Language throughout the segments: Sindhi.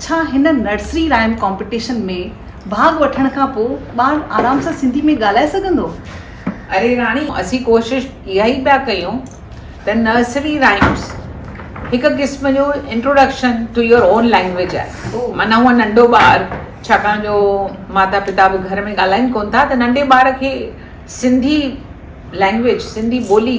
ڇا هن نرسري رائيم ڪامپٽيشن ۾ ڀاڳ وٺڻ کان پوء ٻار آرام سان سنڌي ۾ ڳالهائي سگهندو؟ اري راڻي، اسين ڪوشش اها ئي پيا ڪيون ته نرسري رائيمس هڪ قسم جو introduction to your own language آهي. معنيٰ هو ننڍو ٻار، ڇاڪاڻ جو ماتا پتا به گهر ۾ ڳالهائين ڪونه ٿا ته ننڍي ٻار کي سنڌي لينگويج، سنڌي ٻولي،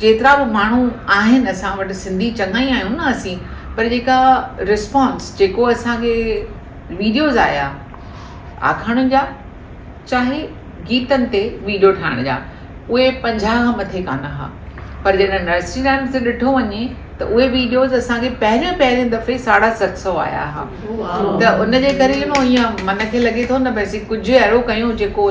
جيترا به ماڻهو آهن اسان وٽ سنڌي چڱا ئي آهيون نه اسين پر جيڪا رسپانس جيڪو اسانکي ويڊيوز آيا آکاڻين جا چاهي گيتن تي ويڊيو ٺاهڻ جا اهي پنجاهه کان مٿي ڪانه هئا پر جڏهن نرسري رائمز تي ڏٺو وڃي ته اهي ويڊيوز اسانکي پهريون پهرين دفعي ساڍا ست سو آيا هئا ته ان جي ڪري يو نو ائين من کي لڳي ٿو نه بس ڪجهه اهڙو ڪيون جيڪو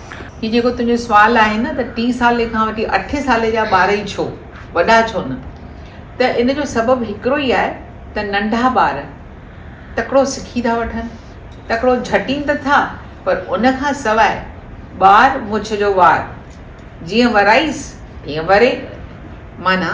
هي جيڪو تنهنجو سوال آهي نه ته ٽي سالي کان وٺي اٺين سالي جا ٻار ئي ڇو؟ وڏا ڇو نه؟ ته ان جو سبب هڪڙو ئي آهي ته ننڍا ٻار تڪڙو سکي ٿا وٺن، تڪڙو جهٽين ته ٿا پر ان کان سواء ٻار مڇ جو وار جيئن ورائيس تيئن وري معنيٰ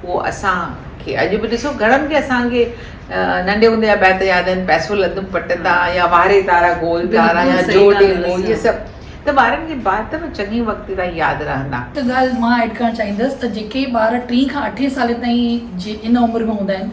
پوء اسان کي اڄ به ڏسو گهڻن کي اسان کي ننڍي هوندي جا بيت ياد آهن پئسو لڌم پٽ تان يا واري تارا گول تارا يا جو ڏي مون هي سڀ ته ٻارن کي بعد ته چڱي وقت تائين ياد رهندا. هڪ ڳالهه مان ايڊ ڪرڻ چاهيندس ته جيڪي ٻار ٽين کان اٺين سالين تائين جي ان عمر ۾ هوندا آهن.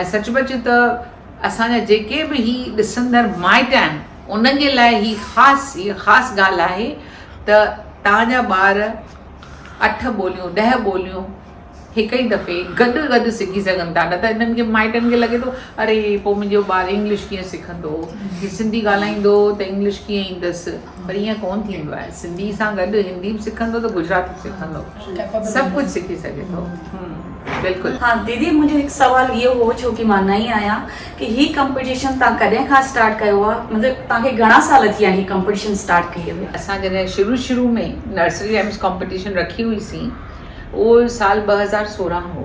۽ سچ پچ ته اسان جا جيڪي به هي ڏسندڙ مائٽ آهن انهن جي لاء هي خاص هيء خاص ڳالهه آهي ته توهان جا ٻار اٺ ٻوليون ڏهه ٻوليون هڪ ئي دفعي گڏ گڏ سکي سگهن ٿا نه ته انهن کي مائٽن کي لڳي ٿو اري پوء منهنجو ٻار انگلش ڪيئن سکندو هي سنڌي ڳالهائيندو ته انگلش ڪيئن ايندس پر ائين ڪونه ٿيندو آهي سنڌي سان گڏ هندي به سکندو ته گجراتي به سکندو سڀ ڪجهه سکي سگهي ٿو بلڪل. ها ديدي منهنجو هڪ سوال اهو هو ڇو ڪي مان نئين آهيان ڪي هي ڪمپٽيشن تان ڪڏهن کان اسٽارٽ ڪيو آهي مطلب تان کي گهڻا سال ٿي ويا هي ڪمپٽيشن اسٽارٽ ڪئي هئي. اسان جڏهن شروع شروع ۾ نرسري رائمس ڪمپٽيشن رکي هئي سين اهو سال ٻه هزار سورهن هو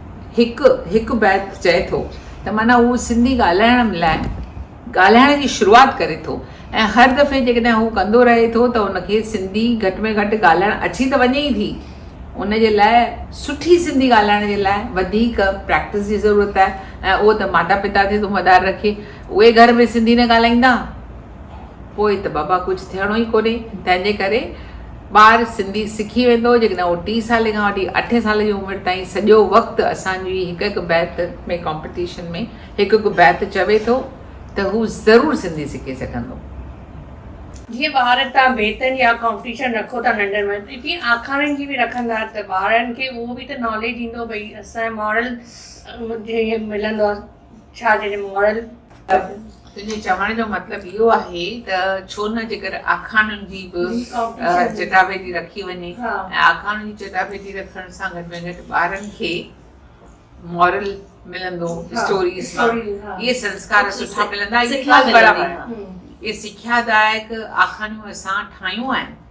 هڪ هڪ بيت چئي ٿو ته معنيٰ هو سنڌي ڳالهائڻ لاء ڳالهائڻ جي شروعات ڪري ٿو ۽ هر دفعي جيڪڏهن هو ڪندو رهي ٿو ته هن کي سنڌي گهٽ ۾ گهٽ ڳالهائڻ اچي ته وڃي ئي ٿي ان جي لاء سٺي سنڌي ڳالهائڻ جي لاء وڌيڪ پريڪٽس جي ضرورت آهي ۽ اهو ته ماتا پتا تي ٿو مدار رکي اهي گهر ۾ سنڌي نه ڳالهائيندا پوء ته بابا ڪجهه ٿيڻو ئي ڪونهي، تنهن جي ڪري ٻار سنڌي سکي ويندو جيڪڏهن اهو ٽي سالي کان وٺي اٺين سالي جي عمر تائين سڄو وقت اسان جي هڪ هڪ بيت ۾ ڪامپيٽيشن ۾ هڪ هڪ بيت چوي ٿو ته هو ضرور سنڌي سکي سگهندو. جيئن ٻار تان بيتن جا ڪامپيٽيشن رکو ٿا ننڍن ۾ ته تيئن آکاڻين جي به رکندا ته ٻارن کي اهو به ته ناليج ايندو ڀئي اسان مارل ملندو آهي. ڇا جڏهن مون مڙل ڪپ. تنهنجي چوڻ جو مطلب اهو آهي ته ڇو نه جيڪر آکاڻين جي به چٽاڀيٽي رکي وڃي ۽ آکاڻين جي چٽاڀيٽي رکڻ سان گهٽ ۾ گهٽ ٻارن کي مورل ملندو اسٽوريز مان اهي سنسڪار سٺا ملندا اهي سکيا دائڪ آکاڻيون اسان ٺاهيون آهن.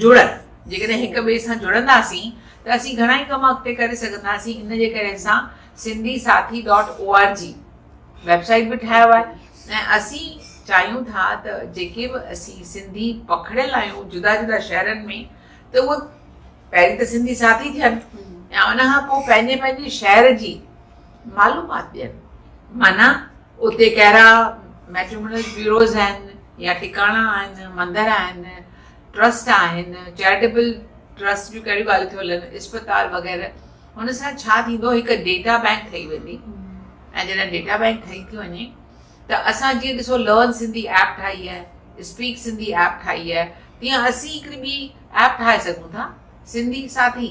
جڙن، جيڪڏهن هڪ ٻئي سان جڙنداسين ته اسين گهڻائي ڪم اڳتي ڪري سگهنداسين ان جي ڪري اسان Sindhi Sathi dot O R G web site به ٺاهيو آهي ۽ اسين چاهيون ٿا ته جيڪي به اسين سنڌي پکڙيل آهيون جدا جدا شهرن ۾ ته اهي پهرين ته سنڌي ساٿي ٿين ۽ ان کان پوء پنهنجي پنهنجي شهر جي معلومات ڏين معنيٰ اتي ڪهڙا ميٽريمونل بيوروز آهن يا ٽڪاڻا آهن، مندر آهن، ٽرسٽ آهن، چئرٽيبل ٽرسٽ جون ڪهڙيون ڳالهيون ٿيون هلن، اسپتال وغيره، هن سان ڇا ٿيندو هڪ ڊيٽا بئنڪ ٺهي ويندي ۽ جڏهن ڊيٽا بئنڪ ٺهي ٿي وڃي ته اسان جيئن ڏسو لرن سنڌي ايپ ٺاهي آهي، اسپيڪ سنڌي ايپ ٺاهي آهي تيئن اسين هڪڙي ٻي ايپ ٺاهي سگهون ٿا سنڌي ساٿي.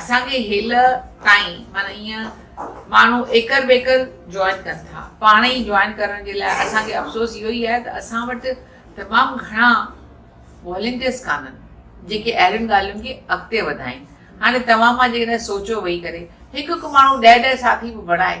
اسان کي هيل تائين معنيٰ ايئن ماڻهو ايڪر ٻيڪر جوائن ڪن ٿا پاڻ ئي جوائن ڪرڻ جي لاء اسان کي افسوس اهو ئي آهي ته اسان وٽ تمام گهڻا والنٽيئرس ڪانن جيڪي اهڙين ڳالهين کي اڳتي وڌائين هاڻي توهان مان جيڪڏهن سوچيو ويهي ڪري هڪ هڪ ماڻهو ڏهه ڏهه ساٿي به بڻائي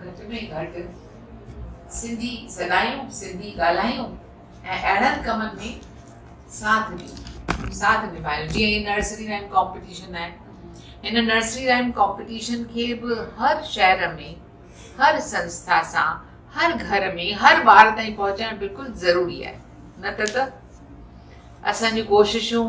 گهٽ ۾ گهٽ سنڌي سڏايون، سنڌي ڳالهايون ۽ اهڙن ڪمن ۾ ساٿ ڏيون. ساٿ نڀايون جيئن هي نرسري رائيم ڪامپيٽيشن آهي هن نرسري رائيم ڪامپيٽيشن کي به هر شهر ۾ هر سنسٿا سان هر گهر ۾ هر ٻار تائين پهچائڻ بلڪل ضروري آهي نه ته ته اسان جون ڪوششون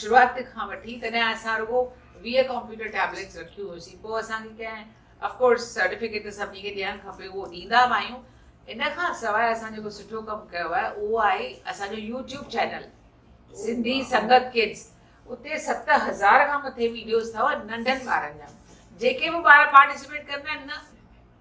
شروعات کان وٺي تڏهن اسان رڳو ويهه ڪمپيوٽر ٽيبليٽس رکيون هيوسين پوء اسان کي ڪنهن اف ڪورس سرٽيفڪيٽ ته سڀني کي ڏيڻ کپي اهو ڏيندا به آهيون ان کان سواء اسان جيڪو سٺو ڪم ڪيو آهي اهو آهي اسان جو YouTube channel Sindhi Sangat kids اتي ست هزار کان مٿي ويڊيوز اٿو ننڍن ٻارن جا جيڪي به ٻار پارٽيسپيٽ ڪندا آهن نه